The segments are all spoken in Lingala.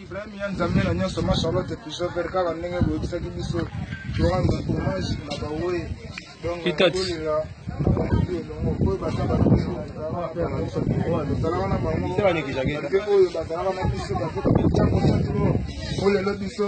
Ibrahim ya Nzambe na nyonso ma Charlotte Pichot Vert kaka ndenge boyebisaki biso torando hommage na bawe donc nakolela na bakutu elongo oyo baza bazalaka na bango oyo bazalaka na biso bakoka bitango satilo olelo biso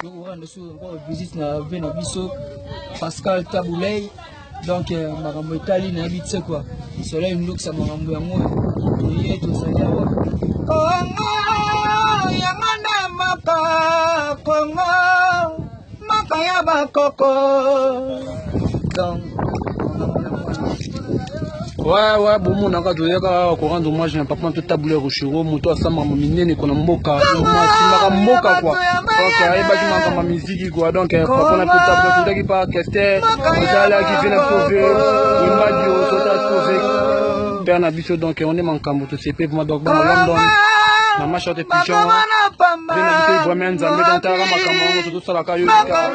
tokoranda so encore visite na vie na biso pascal tabulei donc euh, makambo etali nayebi tse kua soleil ndokisa makambo yango toye tozali awa kongo yango nde mboka kongo mboka ya bakoko wa wa bomonaka toyaka awa korendre hommage na papa mpe tabule ya rochero moto asambaka minene kona mboka asimbaka mboka kua donc ayebaki makambo ya miziki kua donc papa na mpe tabule totaki pa kester osalaki mpe na pove imbadio tota pove père na biso donc on est makambo tosepe vraimen donc bana london na mashote pigeon mpe na mpe vraimen nzambe donc tayaka makambo yango tozosalaka yo